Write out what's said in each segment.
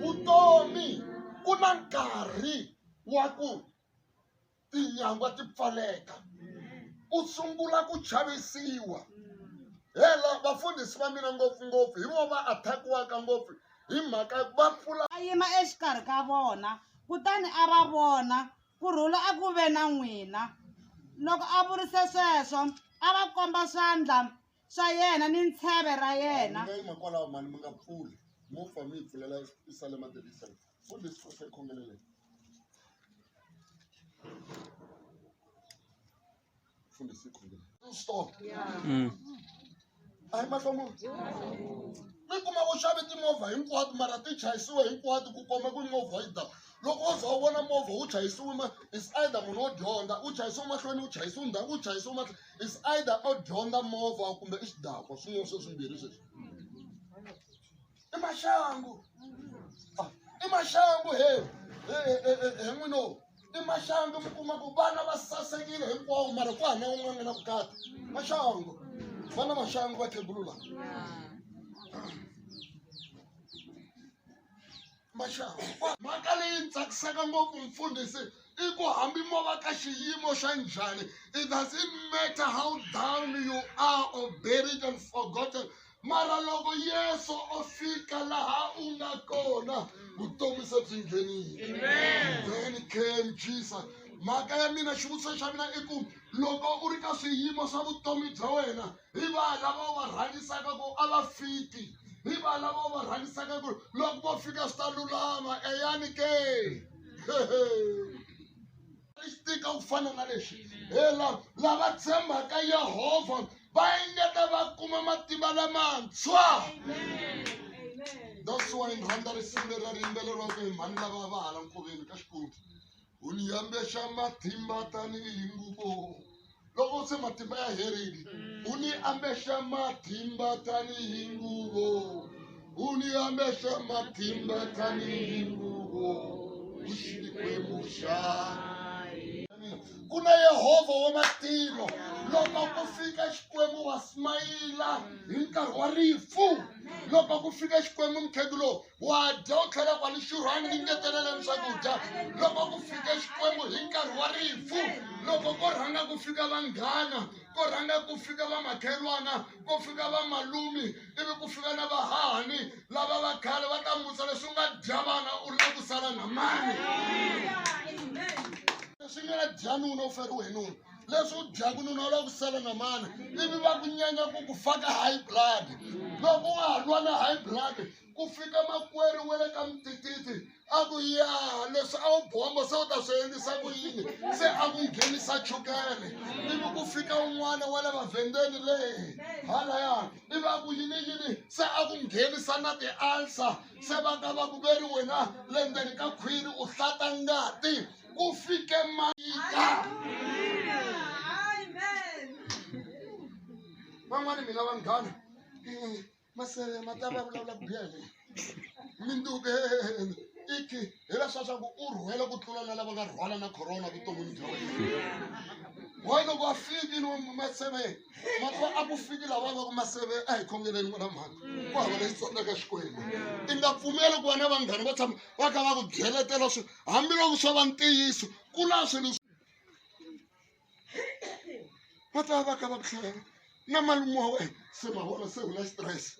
vutomi ku na nkarhi wa ku tinyangwa ti pfaleka u sungula ku chavisiwa hela vafundhisi va mina ngopfungopfu hi vo va attackiwaka ngopfu hi mhaka va pfula a yima exikarhi ka vona kutani a va vona Ku rhula a ku ve na n'wina. Loko a vurise sweswo, a va komba swandla swa yena ni ntsheve ra yena. Hayi, mi nga yima kwalaho, mhani, mi nga pfuli. Mo fa mi yi pfulela eSalema the Listen. Fundi leswi Nkosi a yi khongeleleke. Funde siku ngine. Stop. Mm. A hi mahlomulo. Mi kuma u xave timovha hinkwato mara ti chayisiwe hinkwato ku komba ku movha yi ta. Loko u za u vona movha wu chayisiwe ma is either munhu wo dyondza, u chayisiwe mahlweni, u chayisiwe ndzhaku, u chayisiwe mahlweni. Is either u dyondza movha kumbe i xidakwa swin'wana sweswimbirhi sweswi. i maxangu Ah, i maxangu he he he- he- he n'wino i maxangu mi kuma ku vana va sasekile hinkwawo mara ku hana un'wana nga na vukati maxangu vana maxangu va khegulula maxangu mhaka leyi ni tsakisaka ngopfu mfundhisi i ku hambi mo va ka xiyimo xa njhani it doesn't matter how down you are or buried and forgotten mara loko yesu o fika laha u nga kona vutomi se byi nghenile then came jesus mhaka ya mina xivutiso xa mina i ku loko u ri ka swiyimo swa vutomi bya wena hi va lava u va rhangisaka ku a va fiki hi va lava u va rhangisaka ku loko vo fika swi ta lulama eyani ke swi tika ku fana na leswi hela lava tshembaka yehovha va engeta va kuma matimba lamantshwa that's why ni rhandza risimu leri ri yimbeleriwaka hi mhani lava va hala nkoveni ka xikwembu u ni yambexa matimba tanihi nguvo loko se matimba ya herile mm. u ni ambexa matimba tanihi nguvo u ni ambexa matimba tanihi nguvo u xikwembu xa ku na yehovha wa matilo loko ku fika xikwembu wa smayila hi nkarhi wa rifu loko ku fika xikwembu mukhendu lowu wa dya u tlhela kwale xurhwani ni ngeteleleni swakudya loko ku fike xikwembu hi nkarhi wa rifu loko ko rhanga ku fika vanghana ko rhanga ku fika vamakhelwana ko fika vamalumi ivi ku fika na vahahani lava va khale va ta musa leswi u nga dya vana u ri na ku sala na mani leswi nga dya nuna u feriwe hi nuna leswi u dyaku nuna u lava ku sala na mani ivi va ku nyanya ku ku faka high blood loko wa ha lwa na high blood ku fika makwerhu wa le ka mitititi a ku ya leswi a wu bomba se u ta swi endlisa ku yini se a ku nghenisa chukele ivi ku fika un'wana wa le mavhendeni leyi halaya ivi a ku yini yini se a ku nghenisa na ti-ulcer se va ka va ku ve ri wena le ndzeni ka khwiri u hlata ngati kufike maika van'wani mina vanghana eh, masele matava ya vulavula biyele minduke iki hi leswa swa ku u rhwele ku tlula na lava nga rhwala na corona vuton'wini bya wena why loko a fiki ni maseve matwa a ku fiki lava va ku maseve a hi khongeleni n'wana mhaka ku hava leyi tsonaka xikwembu i nga pfumeli ku va na vanghani va tshama va kha va ku byeletela swi hambiloko swo va ntiyiso ku na swilo va ta va ka va ku hlaya na malume wa wena se ma vona se u na xitirese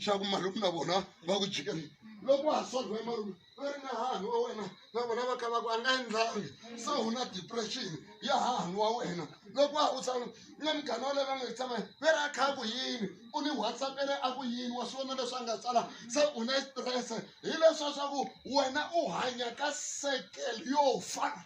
xa ku malume na vona va ku jikeni loko wa ha solve malume va ri na hahani wa wena na vona va ka va ku a nga endlangi se u na depression ya hahani wa wena loko wa ha u tsala na munghana wale va nga yi tshama ve ra kha ku yini u ni whatsappele a ku yini wa swi vona leswi a nga tsala se u na stress hi leswa swa ku wena u hanya ka circle yo fa